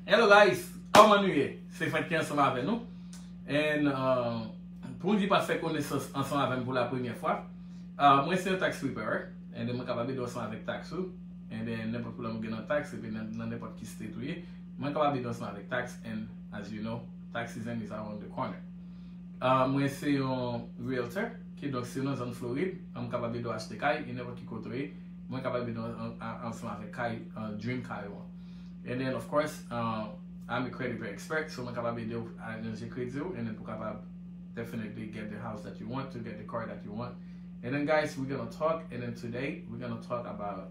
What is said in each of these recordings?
Hello guys, kòman nou ye? Se Frenk ki ansanm avè nou And Pou di pa fè konesans ansanm avèm pou la premyè fwa Mwen se yon tax preparer And mwen kapab ede w ansanm avèk tax ou And nenpòt pwoblèm ou gen nan tax epi nan nenpòt ki state ou ye Mwen kapab ede w ansanm avèk tax And as you know tax season is around the corner Mwen se yon realtor Kidonk si w nan zòn Florid Mwen kapab ede w achte kay e nenpòt ki kote ou ye Mwen ka bay bidon an ansanm avèk kay an dream kay ou an. And then of course I'm a credit very expert so mwen kapab ede ou aranje kredi ou and then pou kapab definitely get the house that you want to get the car that you want. And then guys we gonna talk and then today we gonna talk about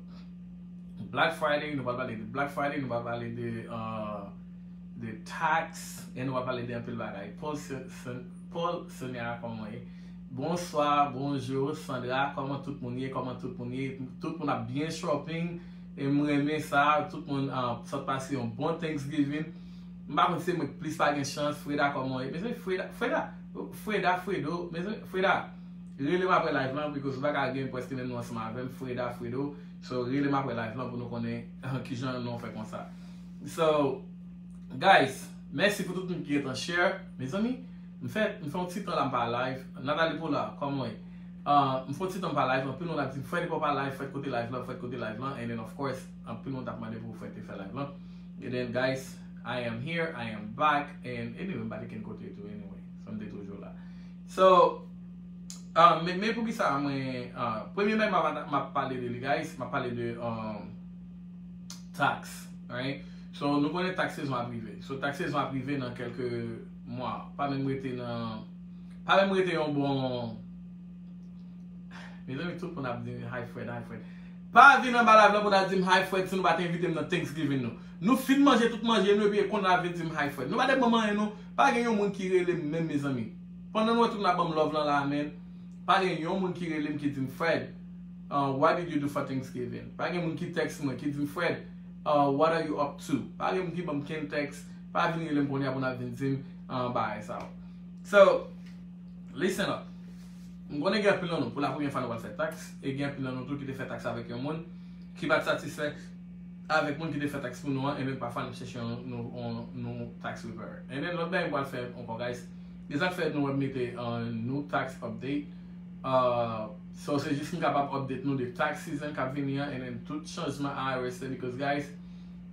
black friday nou pral pale de black friday nou pral pale de uh, de tax and nou pral pale de anpil bagay. Paul Sonia kòman ye? Bonswa bonjour Sandra kòman tout moun ye kòman tout moun ye tout moun ap byen shopping e m renmen sa tout moun sot pase yon bon thanksgiving m pa konn si se mwen ki plis pa gen chans Freda kòman w ye mezanmi Freda Freda Freda Fredo mezanmi Freda rele m aprè live lan because ou pa ka gen preske menm non ansanm avè m Freda Fredo so rele m aprè live lan pou nou konnen kijan non w fè konsa so guys mèsi pou tout moun ki gentan share mezanmi. M fè m fè yon ti tan la m pa live Nathalie Pollard kòman w ye M fè yon ti tan m pa live anpil moun ap di m Fred epa w pa live Fred kote live lan Fred kote live lan and then of course anpil moun tap mande pou Fred te fè live lan and then guys I am here I am back and anyway m pa te kenn kote tou anyway so m te toujou la so ahh men poukisa mwen ahh premye bagay m ap m ap pale de li guys m ap pale de ahh tax right so nou konnen tax sezon ap rive so tax sezon ap rive nan kèlke Mwa pa menm rete nan pa menm rete yon bon Mezanmi tout moun ap di m hi Fred hi Fred Pa vin anba live la pou nal di m hi Fred si nou pat envite m nan Thanksgiving nou Nou fin manje tout manje nou epi konn nap vin di m hi Fred Nou pa te banm anyen nou Pa gen yon moun ki rele m menm mezanmi Pandan nou wè tout moun ap ban m love lan la men Pa gen yon moun ki rele m ki di m Fred ahh what did you do for Thanksgiving Pa gen moun ki text mwen ki di m Fred ahh what are you up to Pa gen moun ki banm kenn text Pa vin relem kounye a pou nap vin dim bagay sa yo. So, listen up. M konnen gen anpil nan nou pou la premye fwa nou pral fè tax e gen anpil nan nou tou ki te fè tax avèk yon moun ki pat satisfè avèk moun ki te fè tax pou nou an e menm pafwa nap chèche yon nou tax preparer. E menm lòt bagay m pral fè ankò guys e sak fè nou wèm mete new tax update so se jis m kapab update nou de tax season kap vini an e menm tout chanjman IRS fè because guys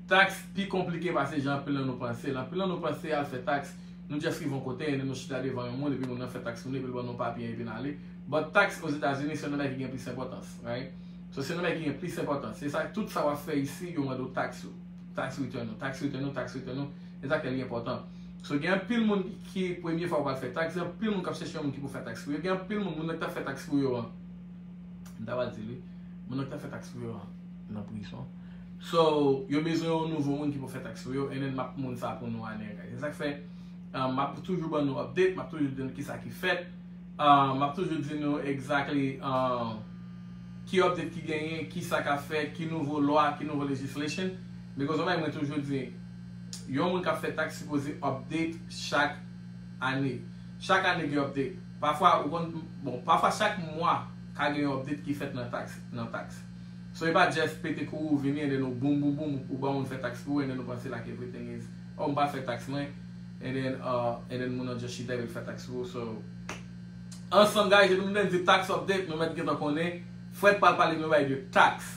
Taks pi konplike pase jan anpil nan nou panse l. Anpil nan nou panse al fè taks, nou just rive yon kote and nou chita devan yon moun epi moun nan fè taks moun epi l ban nou papye epi n ale. But taks Ozetazini se yon nan bagay ki gen plis enpòtans, right? So se yon nan bagay ki gen plis enpòtans. Se sa tout sa w ap fè isi yo mande w taks ou. Tax return ou, tax return ou, tax return ou. Se sa k fè li enpòtan. So gen anpil moun ki premye fwa yo pral fè taks, gen anpil moun k ap chèche yon moun ki pou fè taks pou yo. Gen anpil moun, moun nan k t ap fè taks pou yo an, m ta pral di l wi, moun nan k t ap fè taks pou yo an nan prison. So yo bezwen yon nouvo moun ki pou fè tax pou yo and map moun sa pou nou anyway guys se sak fè map toujou ban nou update map toujou di nou kisa ki fèt map toujou di nou exactly ki update ki genyen kisa kap fèt ki nouvo lwa ki nouvo legislation because yon bagay mwen toujou di yon moun kap fè tax sipoze update chak ane chak ane gen update pafwa ou konn bon pafwa chak mwa ka gen yon update ki fèt nan tax nan tax. So e pa Jeff pete kou ou vini and then ou boom boom boom ou ba moun fè tax pou ou and then ou panse like everything is oh m pa fè tax mwen and then uh and then moun nan just chita epi l fè tax pou ou so ansanm guys epi nou vle di tax update nou mèt gentan konnen Fred pral pale nou bay de tax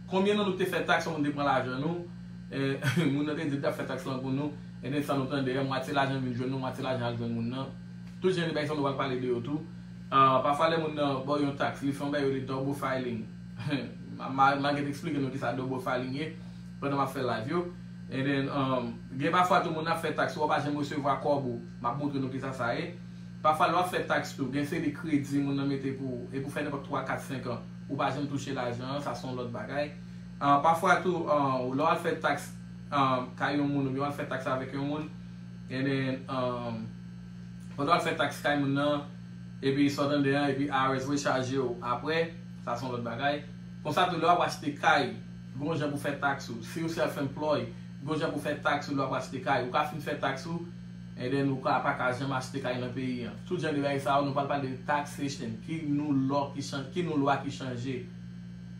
konbyen nan nou te fè tax yon moun te pran lajan nou and moun nan te di l tap fè tax lan pou nou and then san nou tande mwatye lajan vin jwenn nou mwatye lajan al jwenn moun nan tout jan de bagay sa nou pral pale de yo tou. Ahh pafwa lè moun nan baw yon tax li fè yon bagay yo rele double filing ma get explike nou kisa double filing ye pandan map fè live yo and then umm gen pafwa tou moun nan ap fè tax ou wap pa janm resevwa kòb ou map moutre nou kisa sa ye pafwa lè wap fè tax tou gen seri kredi moun nan mete pou ou epi ou fè nenpòt 3 4 5 an ou pa janm touche lajan an sa son lòt bagay ahh pafwa tou umm lè wal fè tax umm kay yon moun oubyen wal fè tax avèk yon moun and then umm. Pandan wap fè tax kay moun nan epi sa w tande an epi IRS voye chaje w aprè sa son lòt bagay. Konsa tou lè wap achte kay gon jan pou fè tax ou siw self employ gon jan pou fè tax ou lè wap achte kay ou ka fin fè tax ou and then ou ka paka janm achte kay nan peyi an tout jan de bagay sa yo nou pral pale de taxation ki nou lò ki nou lwa ki chanje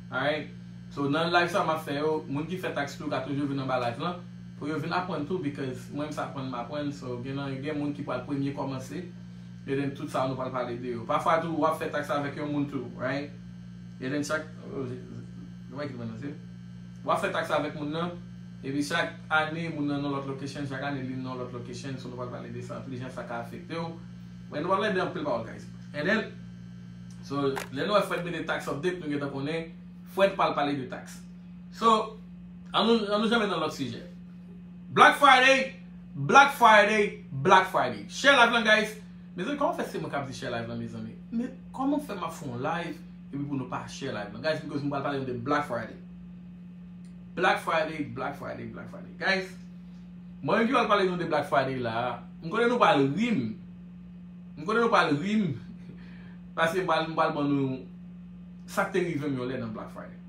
alright so nan live sa map fè yo moun ki fè tax tou ka toujou vin anba live lan. Pou yo vin aprann tou because mwen m sa aprann m aprann so gen nan yo gen moun ki pral premye kòmanse e then tout sa nou pral pale de yo pafwa tou wap fè tax avèk yon moun tou right e then chak oh Jesus wè ki t pran nan zye m wap fè tax avèk moun nan epi chak ane moun nan nan lòt location chak ane li nan lòt location so nou pral pale de sa tou jan sa ka afekte w men nou pral pale de anpil pawòl guys e then so lè nou wè Fred mete tax update nou gentan konnen Fred pral pale de tax. So, an nou an nou janbe nan lòt sijè. Black Friday, Black Friday, Black Friday. Share live lan guys. Mezanmi kòman fè se mwen kap di share live lan mezanmi. Men kòman fè map fè yon live epi pou nou pa share live lan. Guys because m pral pale nou de Black Friday. Black Friday, Black Friday, Black Friday. Guys, mwen menm ki pral pale nou de Black Friday la, m konnen nou pral ri m. M konnen nou pral ri m. Paske m pral m pral ban nou sak te rive m yon lè nan Black Friday.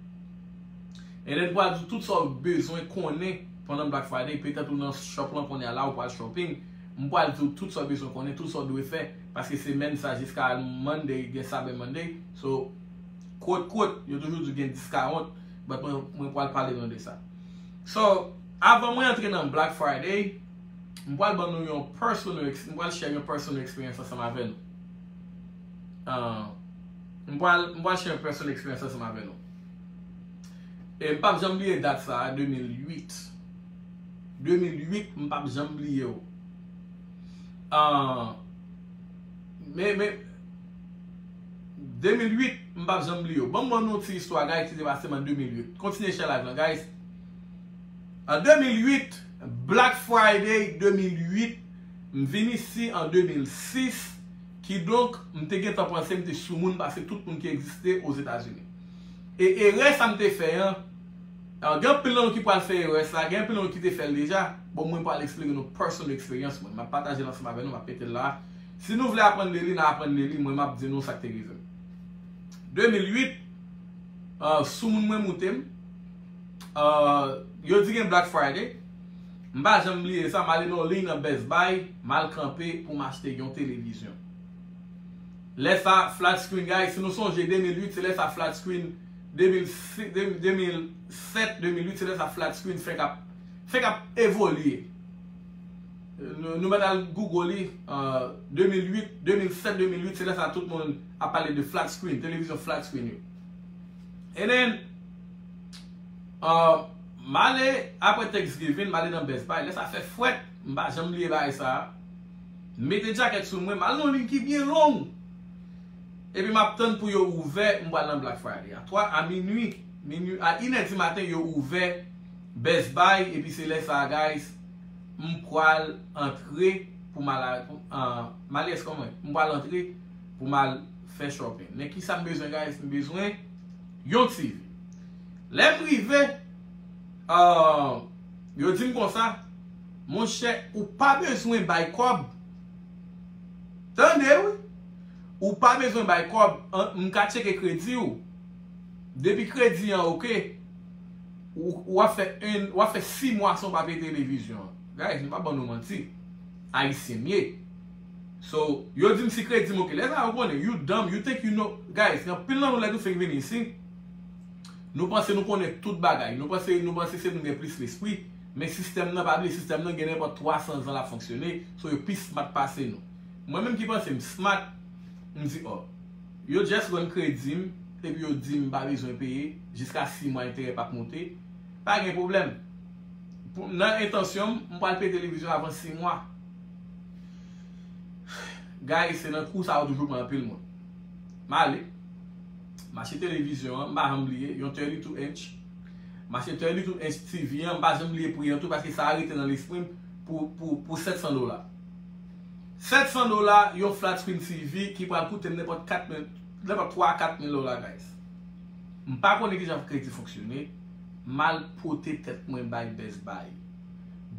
And then pral di tout sa ou bezwen konnen pandan Black Friday, petèt ou nan shop lan kounye a la ou pral shopping, m pral di ou tout sa ou bezwen konnen, tout sa ou dwe fè, paske semèn sa jiska Monday gen Cyber Monday, so quote quote yo toujou di gen discount, but mwen pral pale nou de sa. So, avan mwen antre nan Black Friday, m pral ban nou yon personal, m pral share yon personal experience ansanm avè nou. M pral share yon personal experience ansanm avè nou. E m pap janm bliye dat sa a, 2008. 2008, m pap janm bliye l. Men, men, 2008, m pap janm bliye l. Ban m ban nou yon ti istwa guys ki te pase m an 2008. Kontinye share live lan guys. An 2008, Black Friday 2008, m vin isi an 2006. Kidonk, m te gentan panse m te soumoun pase tout moun ki egziste Ozetazini. E erè sa m te fè an, gen anpil nan nou ki pral fè erè sa, gen anpil nan nou ki te fè l deja, bon mwen pral eksplike nou personal eksperyans mwen, m ap pataje l ansanm avè nou, m ap mete l la a. Si nou vle aprann de li, n a aprann de li, mwen m ap di nou sa k te rive m. 2008, soumoun mwen moute m. Yo di gen Black Friday. M pa janm bliye sa, m ale nan yon liy nan Best Buy, m al kanpe pou m achte yon televizyon. Lè sa, flat screen guy, si nou sonje 2008, se lè sa flat screen, 2007, 2008, se lè sa flat screen fenk ap, fenk ap evolye. Nou mèt al Google li, 2008, 2007, 2008, se lè sa tout moun ap pale de flat screen, televizyon flat screen yo. And then, M ale apre Thanksgiving m ale nan Best Buy lè sa fè fwèt m pa janm bliye bagay sa m mete djakèt sou mwen m al nan yon liy ki byen long epi m ap tann pou yo ouvè m pral nan Black Friday a 3 a minui a inè di maten yo ouvè Best Buy epi se lè sa guys m pral antre pou m al m ale eskonm m pral antre pou m al fè shopping men kisa m bezwen guys m bezwen Yon ti. Lè m rive, aah, yo di m konsa, Monchè, ou pa bezwen bay kòb. Tande wi! Ou pa bezwen bay kòb, m ka tcheke kredi ou. Depi kredi an oke, ou ap fè en, ou ap fè si mwa san w pa peye televizyon an. Guys, m pa ban nou manti. Ayisyen m ye. So yo dim si kredim ok lè sa yo konnen you dumb you think you know guys gen anpil nan nou lè nou fenk vini isi nou panse nou konnen tout bagay nou panse nou panse se nou gen plis lespri men sistèm nan pa bliye sistèm nan gen nenpòt 300 zan lap fonksyone so yo pi smart pase nou mwen menm ki panse m smart m di oh yo just rann kredim epi yo dim m pa bezwen peye jiska 6 mwa enterè pap moute pa gen pwoblèm pou nan entansyon m m pwal peye televizyon avan 6 mwa. Guys se nan kou sa yo toujou pran anpil moun. M ale, m achte televizyon an, m pa janm bliye, yon 32 inch. M achte 32 inch TV an, m pa janm bliye pri an tou paske sa rete nan lespri m pou 700 dola. 700 dola yon flat screen TV ki pral koute m nenpòt 4 mil, nenpòt 3 a 4 mil dola guys. M pa konnen kijan kredi fonksyone, m al pote tèt mwen bay Best Buy.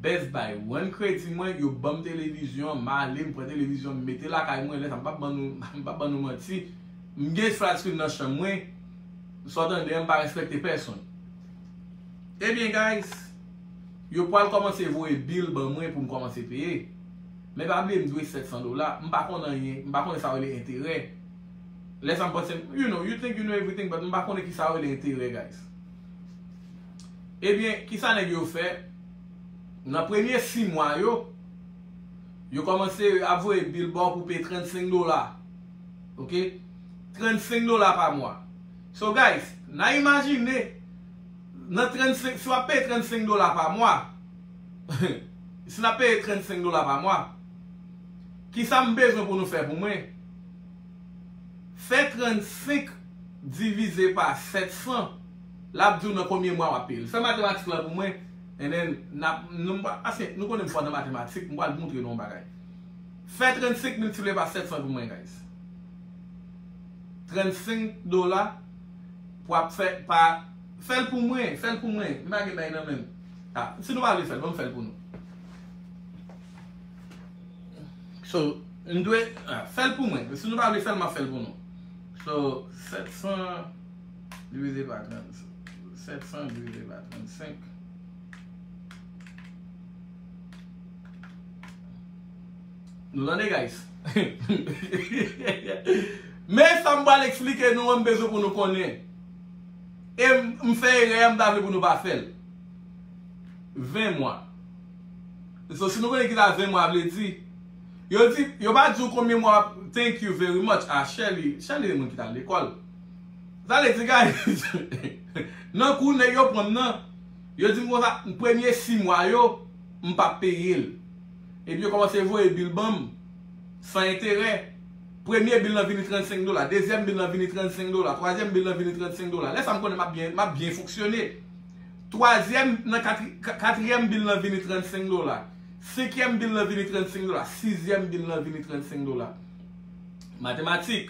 Best buy one kredi mwen yo banm televizyon an m ale m pran televizyon m mete lakay mwen lè sa m pap ban nou m pap ban nou manti m gen flat screen nan chanm mwen sa w tande an m pa respekte pèsonn ebyen guys yo pwal kòmanse voye bill ban mwen pou m kòmanse peye men pa bliye m dwe 700 dola m pa konn anyen m pa konnen sa yo rele enterè lè sa m panse m you know you think you know everything but m pa konnen kisa yo rele enterè guys. Ebyen, kisa nèg yo fè? Nan premye 6 mwa yo, yo kòmanse ap voye bil ba w pou peye 35 dola. Ok? 35 dola pa mwa. So guys, na imajine, nan 35, si w ap peye 35 dola pa mwa, si n ap peye 35 dola pa mwa, kisa m bezwen pou nou fè pou mwen? Fè 35 divize pa 700. Lap diw nan konbyen mwa wap peyel. Fè matematik lan pou mwen and then nap non m pa paske nou konnen m fò nan matematik m pral moutre nou yon bagay. Fè 35 miltipliye pa 700 pou mwen guys. 35 dola pou ap fè pa fèl pou mwen fèl pou mwen m pa gen bay nan menm a si nou pa vle fèl banm fèl pou nou. So m dwe fèl pou mwen si nou pa vle fèl map fèl pou nou. So 700. Divize pa 30. 700 divize pa 35. Nou tande guys? Men sa m pral eksplike nou an m bezwen pou nou konnen. E m fè erè a m ta vle pou nou pa fè l. 20 mwa. So si nou konnen ki sa 20 mwa vle di. Yo di, yo pa di w konbyen mwa, thank you very much a Shelly. Shelly se moun ki t al lekòl. Zale di guys Nan kou nèg yo pranm nan Yo dim konsa premye 6 mwa yo M pa peyel Epi yo kòmanse voye bil banm San enterè Premye bil lan vini 35 dola Dezyèm bil lan vini 35 dola Twazyèm bil lan vini 35 dola Lè sa m konnen m ap byen fonksyone Twazyèm nan Katriyèm bil lan vini 35 dola Senkyèm bil lan vini 35 dola Sizyèm bil lan vini 35 dola Matematik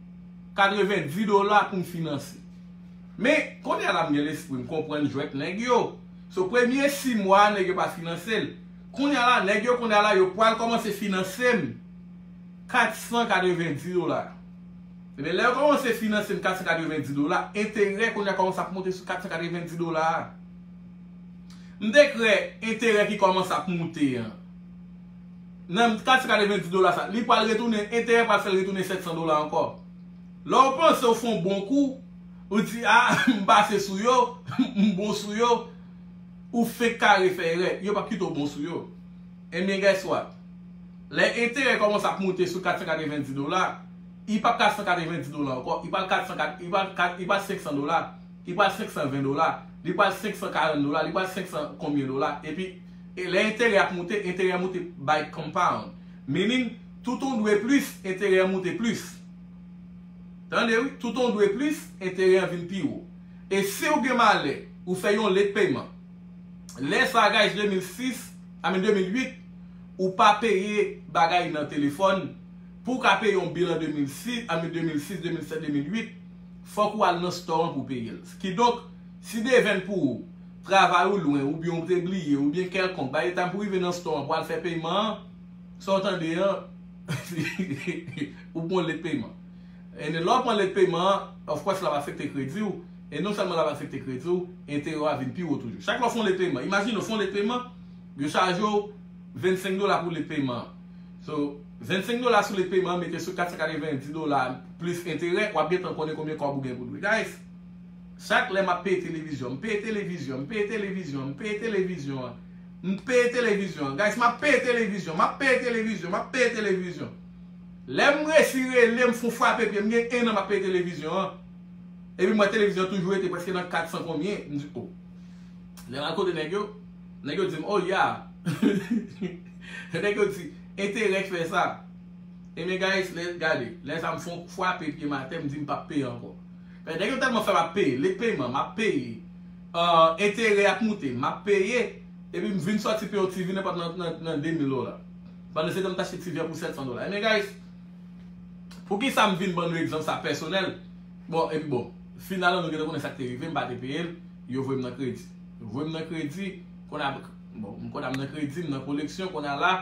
90 dola pou m finanse. Men, kounye a la m gen lespri, m konprann jwèt nèg yo. So, premye 6 mwa a nèg yo pa finanse l. Kounye a la, nèg yo kounye a la yo pral kòmanse finanse m 490 dola. Ebyen, lè yo kòmanse finanse m 490 dola, enterè kounye a kòmanse ap moute sou 490 dola a. M te kwè enterè ki kòmanse ap moute an. Nan 490 dola sa, li pral retounen, enterè pral fè l retounen 700 dola ankò. Lè w panse w fè yon bon kou, ou di, a, m pase sou yo, m bon sou yo, ou fenk kare fè erè, yo p ap kite w bon sou yo. Ebyen guess what? Lè enterè kòmanse ap moute sou 490 dola, li p ap 490 dola ankò, li pral 400, li pral 500 dola, li pral 520 dola, li pral 540 dola, li pral 500 konbyen dola, epi. E lè enterè ap moute, enterè moute by compound. Meaning, tout on dwe plis, enterè an moute plis. Tande wi, tout on dwe plis, enterè an vin pi wo. E si ou gen malè, ou fè yon late payment. Lè sa a guys 2006, I mean 2008, ou pa peye bagay nan telefòn, pou ou ka peye yon bill an 2006, I mean 2006, 2007, 2008, fòk ou al nan store an pou w peye l. Kidonk, si devenn pou ou, travay ou lwen oubyen ou te bliye oubyen kèlkonk bay etanm pou rive nan store an pou al fè peyman an sa ou tande an ou pran yon late payment e lè ou pran late payment an of course lap afekte kredi ou e non sèlman lap afekte kredi ou enterè ou a vin pi wo toujou chak lè ou fè yon late payment imajine ou fè yon late payment yo chaje ou 25 dola pou late payment an so 25 dola sou late payment an mete sou 490 dola plis enterè wap gentan konnen konbyen kòb ou gen pou dwe guys. Chak lè m ap peye televizyon, m peye televizyon, m peye televizyon, m peye televizyon an, m peye televizyon an, guys m ap peye televizyon, m ap peye televizyon, m ap peye televizyon. Lè m resi rele, m fon frape pye m, m gen 1 an m ap peye televizyon an. Epi m wè televizyon an toujou rete prèske nan 400 konbyen, m di oh. Lè m al kote nèg yo, nèg yo di m oh ya. Nèg yo di, enterè k fè sa. Ebyen guys, lè, gade, lè sa m fon frape pye m atè, m di m p ap peye ankò. Pè nèg yo tèlman fèm ap peye lèt peyman map peye ahh enterè ap moute map peye epi m vin sòti peye yon TV nenpòt nan nan nan 2000 dola pandan se tan m t achte TV an pou 700 dola ebyen guys poukisa m vin ban nou egzanp sa pèsonèl bon epi bon final lan nou gentan konnen sak te rive m pa te peye l yo voye m nan kredi yo voye m nan kredi konn a bon m konn a m nan kredi m nan koleksyon konn a la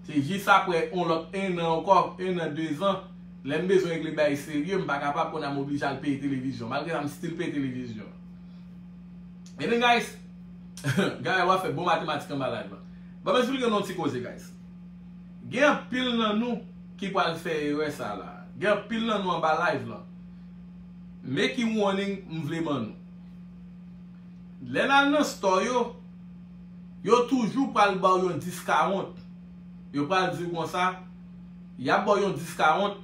se jis aprè yon lòt 1 an ankò 1 an 2 zan. Lè m bezwen regle bagay serye, m pa kapab, kounye a m oblije al peye televizyon. Malgre sa m still peye televizyon. Ebyen guys, Gaëlle wap fè bon matematik anba live la. Ban m esplike nou yon ti koze guys. Gen anpil nan nou ki pral fè erè sa la. Gen anpil nan nou anba live la. Men ki warning m vle ban nou. Lè n al nan store yo, yo toujou pral ba w yon discount. Yo pral di w konsa. Y ap ba w yon diskawont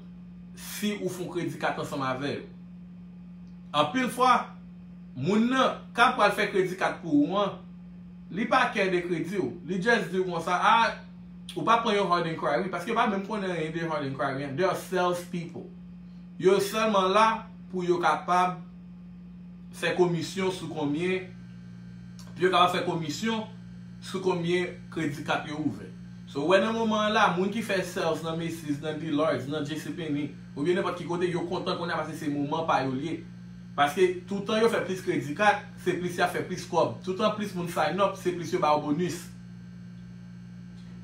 si ou fon kredi kat ansanm avè yo. Anpil fwa, moun nan k ap pral fè kredi kat pou ou an, li pa kè de kredi w. Li just di w konsa, a, ou pa pran yon hard inquiry, paske yo pa menm konnen anyen de hard inquiry an. They are sales people. Yo sèlman la pou yo kapab fè komisyon sou konbyen, pou yo kapab fè komisyon sou konbyen kredi kat yo ouvè. So ou wè nan moman an la, moun ki fè sales nan Macy's, nan Dillard's, nan JCPenney, oubyen nenpòt ki kote, yo kontan kounye a paske se moman pa yo li ye. Paske toutan yo fè plis kredi kat, se plis y ap fè plis kòb. Toutan plis moun sign up, se plis yo ba ou bonus.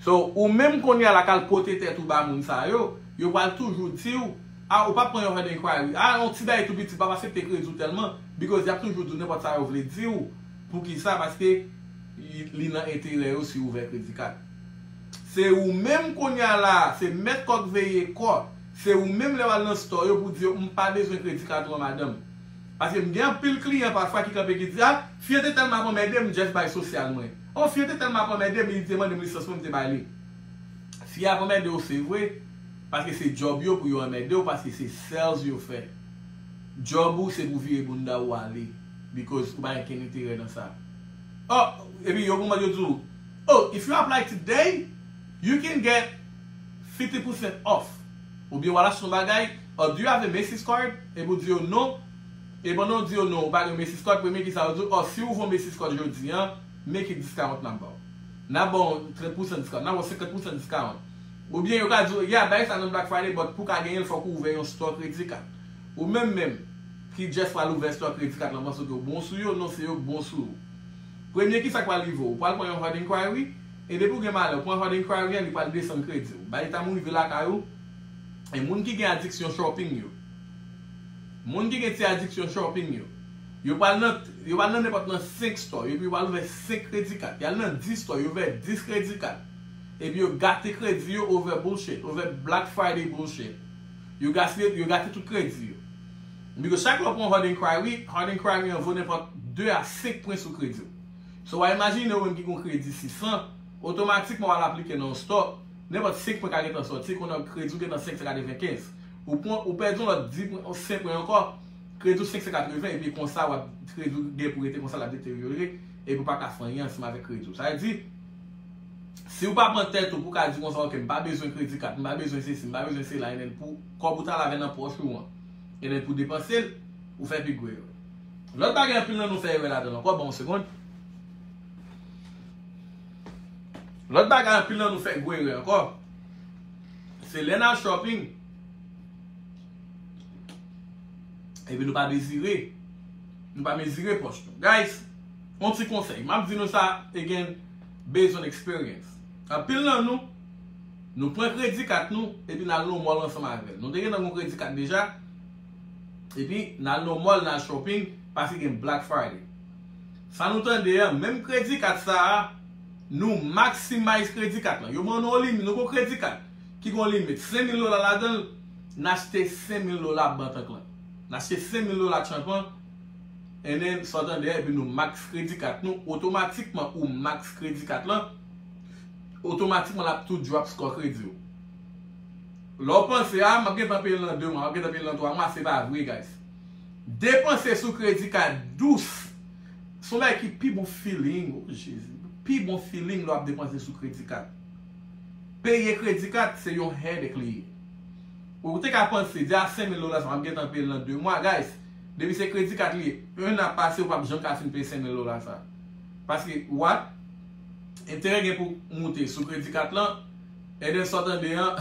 So ou menm kounye a la k al pote tèt ou ba moun sa yo, yo pral toujou di ou, ah ou pa pran yon hard enquiry, ah yon ti bagay tou piti, m p ap asepte kredi ou tèlman, because y ap toujou di ou nenpòt sa yo vle di ou. Poukisa? Paske li nan enterè yo si ou ouvè kredi kad. Se ou menm kounye a la a, se mèt kò k veye kò, se ou menm lè w al nan stò yo pou di yo m pa bezwen kredi kad ou an madanm. Paske m gen anpil kliyan pafwa ki kanpe ki di a Fye te tèlman ap anmède m m jès bay sosyal mwen. O Fye te tèlman ap anmède m li te mande m lisans mwen m te bay li. Fye ap anmède w se vre, paske se djòb yo pou yo anmède w paske se sales yo fè. Djòb ou se pou vire bounda ou ale. because ou pa gen kenn enterè nan sa oh epi yon moman yo di w oh if you apply today you can get fifty percent off oubyen wal achte yon bagay oh do you have a Macy's card epi w di yo non e pandan w di yo non ou pa gen Macy's card premye kisa yo di w oh si w van Macy's card jodi an men ki discount nap ba w nap ba w trant pousan discount nap ba w senkant pousan discount oubyen yo ka di w yeah bay sa nan Black Friday but pou w ka genyen l fòk ou ouvè yon store credit card ou menm menm Ki Jeff pral ouvè store kredi kat lan panse ke w bon sou yo non se yo k bon sou ou premye kisa k pral rive w ou pral pran yon hard inquiry e depi w gen malè w pran hard inquiry an li pral desann kredi w bay time w rive lakay ou e moun ki gen adiksyon shopping yo moun ki gen ti adiksyon shopping yo yo pral nan yo pral nan nenpòt nan 5 store yo epi yo pral ouvè 5 kredi kat yal nan 10 store yo ouvè 10 kredi kat epi yo gate kredi yo over bullshit over black friday bullshit. Yo gaspiye, yo gate tout kredi yo. Biko chak lè w pran hard enquiry, hard enquiry an vo nenpòt 2 a 5 pwen sou kredi w. So wa imajine ou menm ki gen yon kredi 600, otomatikman wal aplike nan yon store, nenpòt 5 pwen ka gentan sòti, kounye a kredi w gentan 595. Ou pran, ou pèdi yon lòt 10 pwen, 5 pwen ankò, kredi w 580 epi konsa wap, kredi w gen pou rete konsa lap deteryore epi w paka fè anyen ansanm avèk kredi w. Sa vle di. Siw pa pran tèt ou pou ka di konsa ok m pa bezwen kredi kat m pa bezwen sesi m pa bezwen sela enben pou kòb ou ta lave nan pòch ou an enben pou depansel ou fè pi gwo erè. Lòt bagay anpil nan nou fè erè ladanl ankò banm yon segond lòt bagay anpil nan nou fè gwo erè ankò se lè nal shopping epi nou pa mezire nou pa mezire pòch nou guys yon ti konsèy map di nou sa e gen based on experience. Anpil nan nou, nou pran kredi kat nou epi n al nan mall ansanm avè l. Nou te gentan gen yon kredi kat deja epi n al nan mall n al shopping paske gen Black Friday. Sa nou tande an, menm kredi kat sa a, nou maximize kredi kat lan. Yo ban nou yon limit, nou gen yon kredi kat ki gen yon limit 5000 dola ladan l, n achte 5000 dola bantank lan. N achte 5000 dola tchanpan. NN, Santandè, epi nou max kredi kat nou, otomatikman ou max kredi kat lan, otomatikman l ap tou drop score kredi w. Lè w panse, ah m ap gentan peye l nan 2 mwa, m ap gentan peye l nan 3 mwa, se pa vre guys. Depanse sou kredi kat dous, son bagay ki pi bon feeling, oh Jezi, pi bon feeling lè w ap depanse sou kredi kat. Peye kredi kat se yon headache li ye. Ou te ka panse, di ah 5000 dola sa m ap gentan peye l nan 2 mwa guys. Depi se kredi kat li ye 1 a pase ou pap janm ka fin peye 5000 dola sa. Paske what? Enterè gen pou moute sou kredi kat lan Eden sa w tande an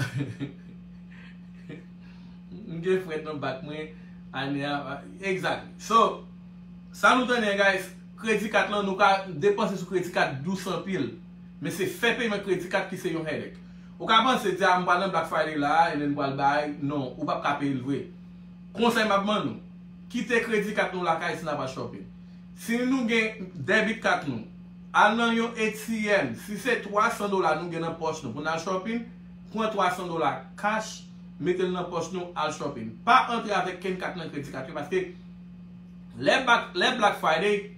M gen frèt nan bak mwen ane a Exactly So sa nou tande an guys kredi kat lan nou ka depanse sou kredi kat dous anpil men se fè peyman kredi kat ki se yon headache. Ou ka panse di a m pral nan Black Friday la a and then m pral bay non ou pap ka peye l vre. Konsèy map ban nou, kite kredi kat nou lakay si nap al shopping. Si nou gen debit kat nou, al nan yon ATM, si se 300 dola nou gen nan pòch nou pou nal shopping, pran 300 dola cash, metel nan pòch nou al shopping. Pa antre avèk kenn kat nan kredi kat yo paske lè bak lè black friday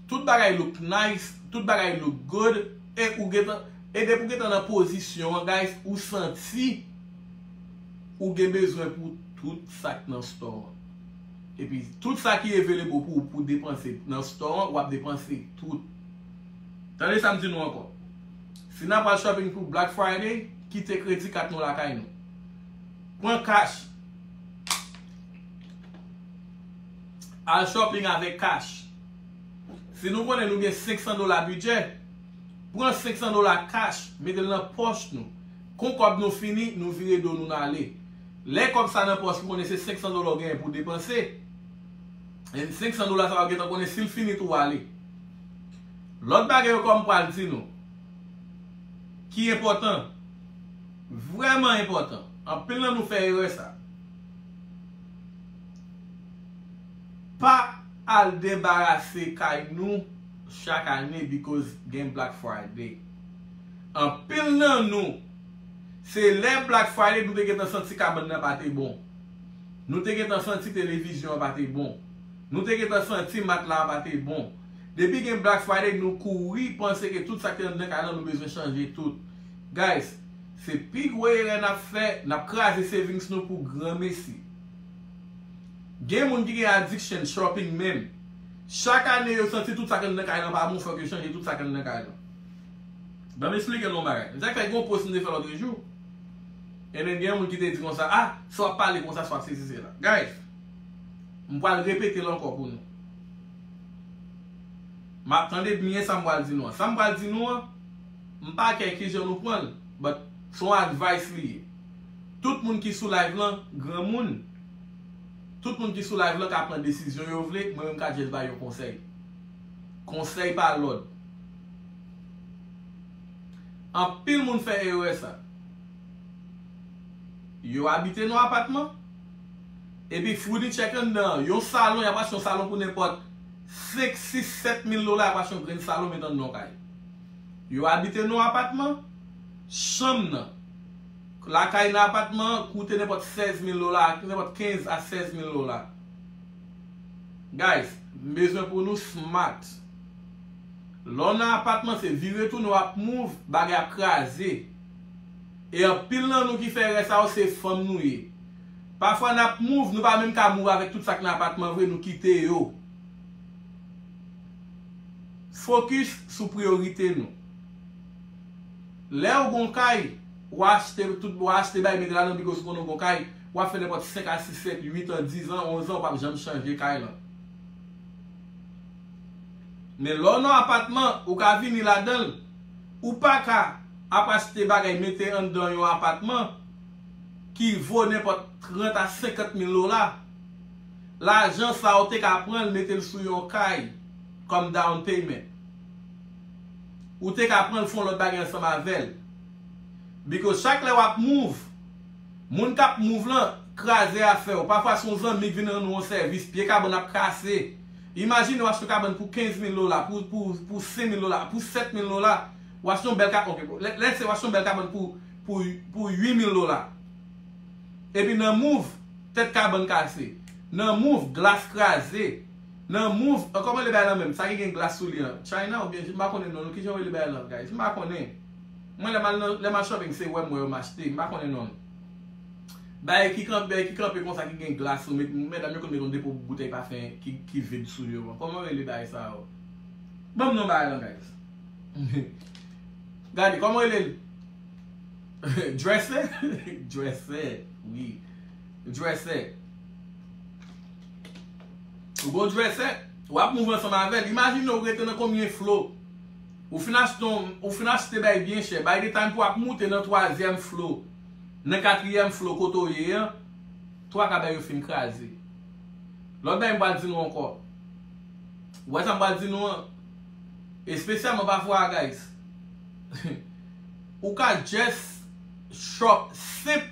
tout bagay look nice, tout bagay look good e ou gentan e depi ou gentan nan pozisyon an guys ou santi Ou gen bezwen pou tout sa k nan store an. Epi tout sa ki available pou ou pou depanse nan store an wap depanse tout. Tande sa m di nou ankò. Si nap al shopping pou Black Friday, kite kredi kat nou lakay nou. Pran cash. Al shopping avèk cash. Si nou konnen nou gen 500 dola bidjè, pran 500 dola cash mete l nan pòch nou. Kon kòb nou fini, nou vire do nou n ale. Lè kòb sa nan pòs li konnen se 500 dola w genyen pou w depanse. And 500 dola sa w ap gentan konnen si l fini tou w ale. Lòt bagay yo kòm m pral di nou. Ki enpòtan. Vrèman enpòtan. Anpil nan nou fè erè sa. Pa al debarase kay nou chak ane because gen Black Friday. Anpil nan nou, se lè Black Friday nou te gentan santi kabann nan pa te bon. Nou te gentan santi televizyon an pa te bon. Nou te gentan santi matla a pa te bon. Depi gen Black Friday nou kouri panse ke tout sa ki te anndan kay lan nou bezwen chanje tout. Guys, se pi gwo erè n ap fè, n ap kraze savings nou pou granmesi. Gen moun ki gen addiction shopping menm. Chak ane yo santi tout sa ki anndan kay lan pa bon fòk yo chanje tout sa ki anndan kay lan. Ban m esplike nou yon bagay. M te fè yon post m te fè lòtre jou. Ebyen gen yon moun ki te di konsa, ah, si w ap pale konsa, si w ap sesi sela. Guys, m pral repete l ankò pou nou. M ap tande byen sa m pral di nou an. Sa m pral di nou an, m pa kè ki jan nou pran l, but se yon advice li ye. Tout moun ki sou live lan, granmoun, tout moun ki sou live lan ka pran desizyon yo vle, mwen menm m ka just bay yon konsèy. Konsèy pa lòd. Anpil moun fè erè sa. Yo abite nan apatman, epi founitchè k anndan an, yon salon, y ap achte yon salon pou nenpòt 5, 6, 7 mil dola, y ap achte yon grenn salon met anndan yon kay. Yo abite nan apatman, chanm nan, lakay nan apatman an koute nenpòt 16 mil dola, nenpòt 15 a 16 mil dola. Guys, m bezwen pou nou smart. Lè w nan apatman se vire tounen w ap mouv, bagay ap kraze. E anpil nan nou ki fè erè sa yo se fanm nou ye. Pafwa n ap mouv nou pa menm ka mouv avèk tout sa k nan apatman vre nou kite yo. Fokis sou priyorite nou. Lè ou gon kay, w a achte tout, w a achte bagay mete la nan bigo si w konnen w gon kay, w ap fè nenpòt 5 a 6, 7, 8 an, 10 an, 11 an ou p ap janm chanje kay lan. Men lè w nan apatman, ou ka vini ladan l. Ou pa ka ap achte bagay mete anndan yon apatman ki vo nenpòt 30 a 50 mil dola. Lajan sa ou te ka pran l mete l sou yon kay kòm down payment. Ou te ka pran l fè yon lòt bagay ansanm avè l. Because chak lè w ap move, moun k ap move lan kraze afè w. Pafwa se yon zanmi k vin rann ou yon sèvis, pye kabann ap kase. Imajine w achte kabann pou 15 mil dola, pou pou 5 mil dola, pou 7 mil dola, w achte yon bèl ka ok bon, lè se w achte yon bèl kabann pou pou pou 8 mil dola. Epi nan mouv, tèt kabann kase, nan mouv, glas kraze, nan mouv, an kòman rele bagay lan menm, sa ki gen glas sou li an, China oubyen m pa konnen non l, kijan yo rele bagay lan guys, m pa konnen. Mwen lè m al nan, lè m al shopping se wè m wè yo m achte, m pa konnen non l. Bagay ki kanpe ki kanpe konsa ki gen glas sou met medam yo konn met yon depo boutèy pafen ki vid sou yo an kòman rele bagay sa yo banm non bagay lan guys gade kòman rele l dresser dresser wi dresser ou gon dresser wap move ansanm avèl imajine ou rete nan konbyen flo ou fin achte yon ou fin achte bagay byen chè bay detay m pou wap moute nan twazyèm flo. Nan katriyèm flo kote w ye an, twa ka bay yo fin kraze. Lòt bagay m pral di nou ankò. Ou wè sa m pral di nou an? Espesyalman pafwa a guys. Ou ka just shop senp,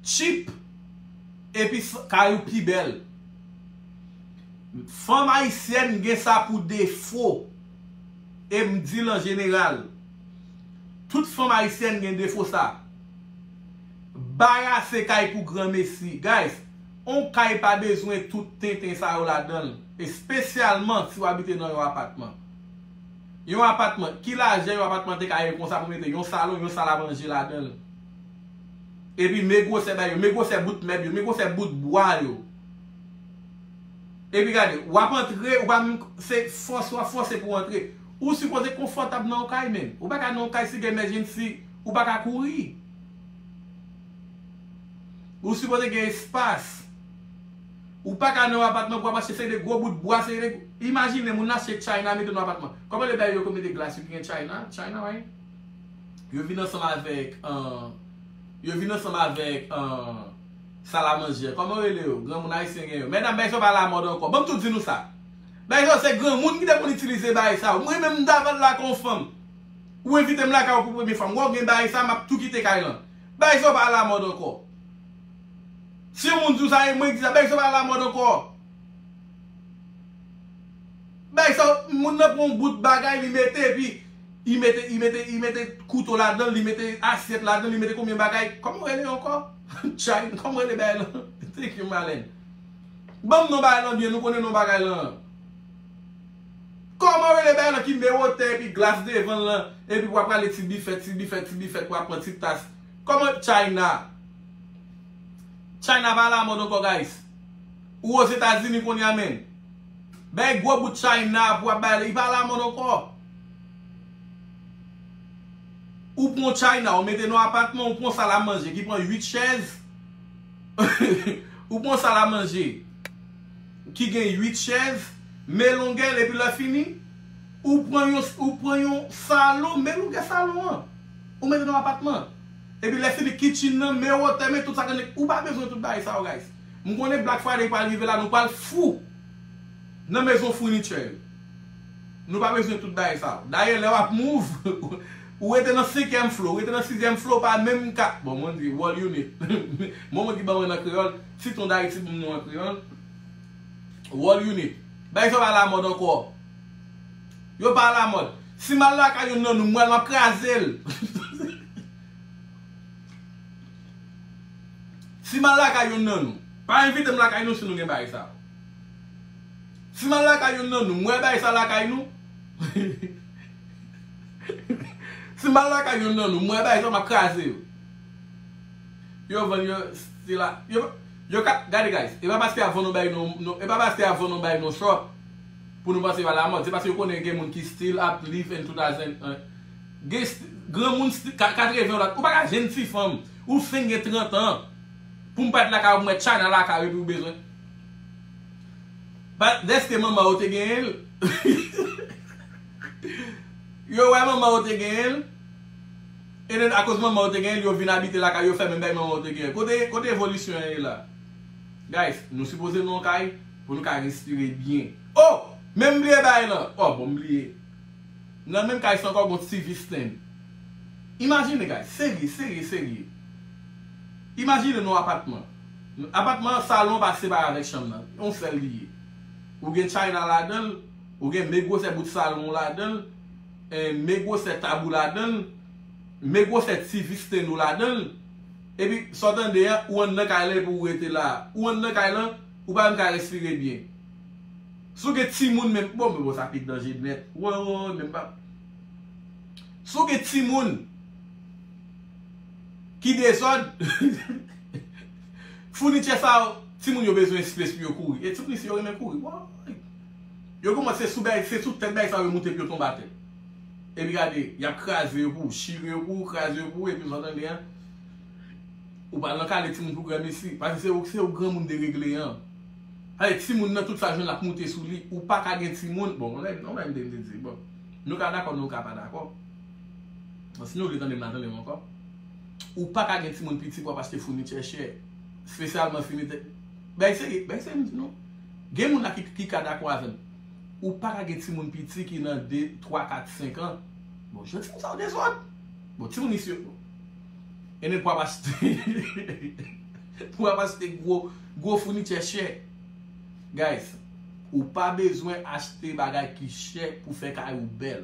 cheap, epi kay ou pi bèl. Fanm ayisyèn gen sa pou defo. E m di l an jeneral. Tout fanm ayisyèn gen defo sa. Barase kay pou granmesi. Guys, on kay pa bezwen tout tenten sa yo ladanl, espesyalman si w abite nan yon apatman. Yon apatman, ki lajè yon apatman te ka ye konsa pou mete yon salon, yon sal a manje ladanl? Epi men gwosè bagay yo, men gwosè bout mèb yo, men gwosè bout bwa yo. Epi gade, w ap antre, ou pa menm, se fòse w ap fòse pou w antre. Ou sipoze konfòtab nan yon kay men. Ou pa ka nan yon kay si gen emergency ou pa ka kouri. Ou sipoze gen espas. Ou pa ka nan yon apatman pou wap achte se de gwo bout bwa se de Imajine moun achte China mete nan yon apatman. Kòman le bagay yo kon mete glas yo ki gen China, China way? Yo vin ansanm avèk Yo vin ansanm avèk Salamanje. Kòman yo rele yo? Granmoun ayisyen gen yo. Medam bagay sa yo pa lamòd ankò. Banm tou di nou sa. Bae sa yo se granmoun ki te konn itilize bae sa yo. Mwen menm m ta vann la ak yon fanm. Ou envite m lakay ou pou premye fwa. M wè w gen bae sa a m ap tou kite kay lan. Bae sa yo pa alamòd ankò. Si yon moun di w sa e mwen ki di sa, bae sa yo pa alamòd ankò. Bae sa yo, moun nan pran yon bout bagay li mete epi li mete, li mete, li mete kouto ladan l, li mete asyèt ladan l, li mete konbyen bagay. Kòman yo rele yo ankò? Tchay, kòman yo rele bae lan? Thank you Malèn. Banm non bagay lan byen nou konnen non bagay lan Koman rele bagay lan ki mewotè epi glas devanl lan epi wap rale ti bifèt ti bifèt ti bifèt wap pran ti tas Koman China China pa alamòd ankò guys Ou ozetazini kounya menn Bay gwo bout China pou wap bay li pa alamòd ankò Ou pran yon China ou mete nan apatman ou pran sal a manje ki pran 8 chèz. Ou pran sal a manje ki gen 8 chèz, men longè l epi lè fini, ou pran yon ou pran yon salon, men longè salon an. Ou mete nan apatman an. Epi lè fini kitchen nan, men wotè, men tout sa gen Ou pa bezwen tout bagay sa yo guys. M konnen Black Friday pral rive la nou pral fou nan mezon furniture yo. Nou pa bezwen tout bagay sa yo. Dayè lè wap move, ou rete nan senkyèm flo, ou rete nan sizyèm flo, ou pa menm ka, bon mwen di world unit, mo mwen ki ban mwen nan kreyòl, si ton dayiti ban m nou an kreyòl, world unit. Bagay sa yo pa alamòd ankò. Yo pa alamòd. Si m al lakay youn nan nou, mwen map kraze l. Si m al lakay youn nan nou, pa envite m lakay nou si nou gen bagay sa yo. Si mal lakay youn nan nou, mwen bay sa lakay nou. Si mal lakay youn nan nou, mwen bay sa map kraze yo. Yo vann yo sila, yo pa, yo ka, gade guys, e pa paske yap vann nou bay nou, e pa paske yap vann nou bay nou shop pou nou panse yo alamòd, se paske yo konnen gen moun ki still ap live in 2000, gen granmoun sti, 80 la, ou pa ka jwenn ti fanm, ou fin gen 30 ans, poum pa t lakay ou pou m wè China lakay ou epi ou bezwen. Bat deske manman ou te genyen l. Yo wè manman ou te genyen l. E den akoz manman ou te genyen l yo vin abite lakay yo fè menm bagay manman ou te genyen. Kote kote evolisyon an ye la. Guys nou sipoze nou an kay pou nou ka respire byen. Oh! Men m bliye bagay lan. Oh bon m bliye. Nan menm kay sa ankò gon TV stand. Imajine guys. Serye serye serye. Imajine nou apatman. Apatman an salon pa separe avèk chanm nan, yon sèl li ye. Ou gen china ladan l, ou gen men gwosè bout salon w ladan l, men gwosè tab ou ladan l, men gwosè ti visten ou ladan l. Epi, sa w tande a, ou anndan kay lan epi ou rete la a. Ou anndan kay lan, ou pa menm ka respire byen. Si w gen timoun menm, bon, men bon sa pi danje nèt. Woy, woy, men m pa. Si w gen timoun. Ki dezòd Founitye sa yo Timoun yo bezwen espas pou yo kouri E ti pri si yo renmen kouri Woy Yo gou mòd se sou bèy se sou tèt bèy sa yo moute pou yo tonbe atè Epi gade Yap kraze yo pou ou Chire yo pou ou Kraze yo pou ou Epi sa w tande an Ou pa al nan kale timoun pou granmesi Paske se ou se ou granmoun deregle an Gade timoun nan tout sa l jwenn lap moute sou li Ou paka gen timoun Bon on bagay m te di Bon Nou ka dakò nou ka pa dakò Bon si nou vle tande m nan tande m ankò. Ou paka gen timoun piti pou ap achte founitye chè. Spesyalman founitye. Bèk serye, bèk serye m di nou. Gen moun la ki ka dakò avè m. Ou paka gen timoun piti ki nan 2, 3, 4, 5 an. Bon jan timoun sa yo dezòd. Bon timoun isi yo. E men pou ap achte. Pou ap achte gwo, gwo founitye chè. Guys, ou pa bezwen achte bagay ki chè pou fè kay ou bèl.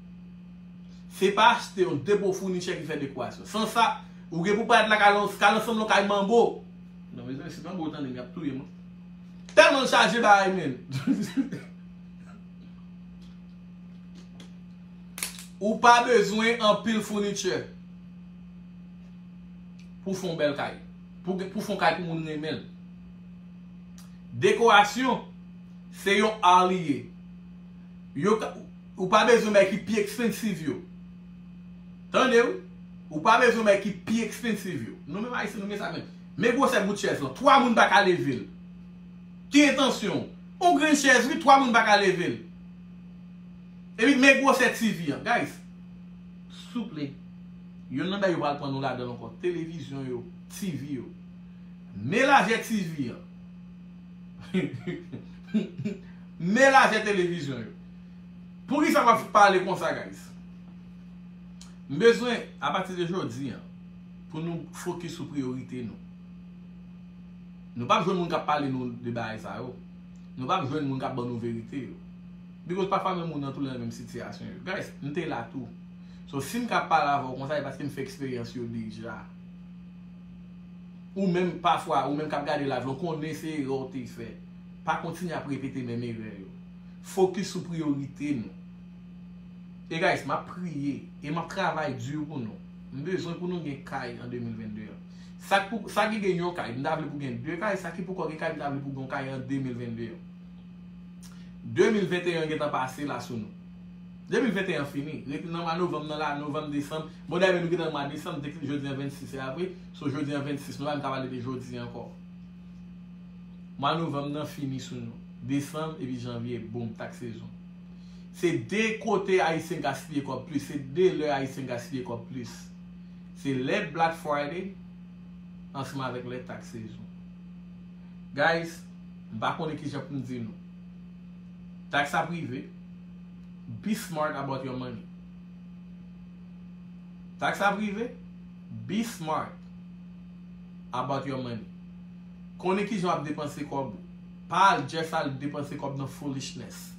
Se pa achte yon depo founichè ki fè dekorasyon. San sa, ou gen pou paret la kay lan, kay lan sanble yon kay manbo. Non mezanmi, si manbo tande m, y ap touye m. Tèlman l chaje bagay men. Ou pa bezwen anpil founichè pou fè yon bèl kay. Pou fè yon kay pou moun renmen l. Dekorasyon, se yon ar li ye. Ou pa bezwen bay ki pi expensive yo. Tande wi. Ou pa bezwen bay ki pi expensive yo. Nou menm Ayisyen nou gen sa menm. Men gwosè bout chèz lan. 3 moun pa ka leve l. Ki entansyon w? On grenn chèz wi, 3 moun pa ka leve l. Epi men gwosè TV an. Guys, souple, yonn nan bagay yo pral pran nou ladan l ankò, televizyon yo, TV yo. Men lajè TV an. Men lajè televizyon yo. Poukisa wap pale konsa guys. M bezwen a pati de jodi an pou nou fokis sou priyorite nou. Nou pap jwenn moun kap pale nou de bagay sa yo. Nou pap jwenn moun kap ban nou verite yo. Bikòz pafwa menm moun nan tou nan menm sitiyasyon yo. Guys, m te la tou. So sim ka pale avè w konsa e paske m fè eksperyans yo deja. Ou menm pafwa ou menm kap gade live lan w konnen se erè w te fè. Pa kontinye ap repete menm erè yo. Focus sou priorite nou. E guys map priye e map travay dur pou nou. M bezwen pou nou gen kay an 2022 an. Sak pou sa ki gen yon kay m ta vle pou gen 2 kay sa ki poko gen kay m ta vle pou gen yon kay an 2022 an. 2021 gentan pase la sou nou. 2021 an fini rete nan mwa novanm nan la novanm desanm bon dayè menm nou gentan nan mwa desanm depil jodi an 26 se a vre so jodi an 26 nou pa menm ka pale de jodi ankò. Mwa novanm nan fini sou nou. Desanm epi janvye boom tak sezon. Se 2 kote ayisyen gaspiye kòb plis, se 2 lè ayisyen gaspiye kòb plis. Se lè Black Friday ansanm avèk lè tak sezon. Guys, m pa konnen kijan pou m di nou. Tax ap rive, be smart about your money. Tax ap rive. Be smart about your money. Konnen kijan wap depanse kòb ou. Pa al just al depanse kòb nan foolishness.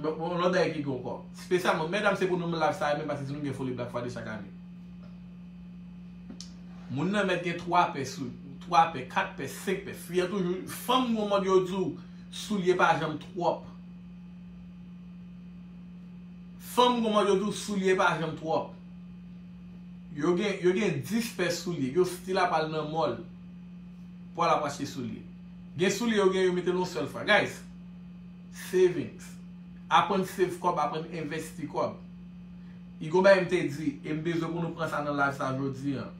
Yon lòt bagay ki gen ankò. Spesyalman, medam se pou nou menm life sa a menm paske se nou ki gen foli black friday chak ane. Moun nan mèt gen 3 pè sou li. 3 pè, 4 pè, 5 pè. Fi an toujou, fanm gon mòd yo di w soulye pa janm twòp. Fanm gon mòd yo di w soulye pa janm twòp. Yo gen yo gen 10 pè soulye yo still ap al nan mall pou al ap achte soulye gen soulye yo gen yo metel yon sèl fwa guys savings aprann save kòb aprann envesti kòb i gon bagay m te di e m bezwen pou nou pran sa nan live sa jodi an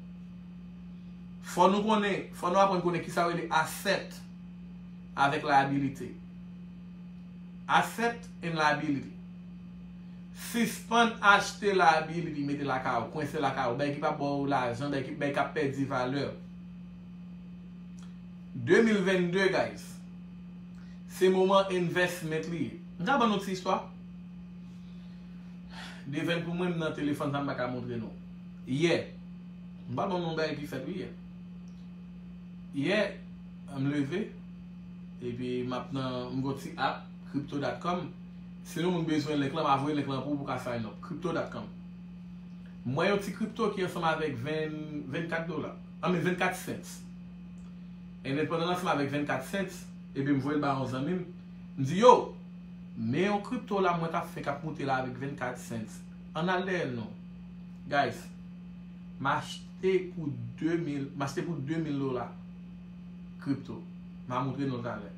fò nou konnen fò nou aprann konnen kisa yo rele asset avèk liability asset and liability. Sispann achte labil epi mete lakay ou, kwense lakay ou, bay ki pa baw lajan, bay ki bay kap pèdi valè. 2022 guys se moman investment li ye. M ta bann nou ti istwa. Devèn pou mwen m nan telefòn sa m paka montre nou. Yè, m pral bann nou yon bagay ki fèt wi yè. Yè m leve epi map nan m gon ti app crypto.com. Si yon moun bezwen link lan ma voye link lan pou ou pou ka sign up crypto dot com m wè yon ti crypto ki ansanm avèk 24 dola I mean 24 cents enben pandan l ansanm avèk 24 cents enben m voye l ba yon zanmi m m di yo men yon crypto la mwen tap fè kap moute la avèk 24 cents ann al dèyè l non guys m achte pou 2000 m achte pou 2000 dola crypto ma moutre nou l talè.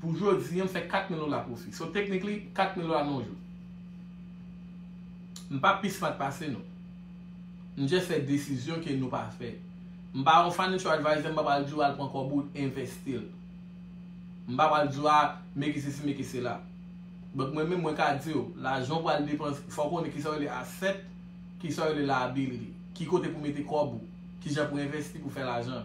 Pou jodi an m fè 4 mil dola pwofi. So technically 4 mil dola nan yon jou. M pa pi smart pase nou. M just fè desizyon ke nou pa fè. M pa yon financial adviser, m pa pral di w al pran kòb ou envesti l. M pa pral di w a meke sesi meke sela. But mwen menm mwen ka di w, lajan w pral depanse, fò w konnen kisa yo rele asset, kisa yo rele liability. Ki kote pou mete kòb ou, kijan pou envesti pou fè lajan.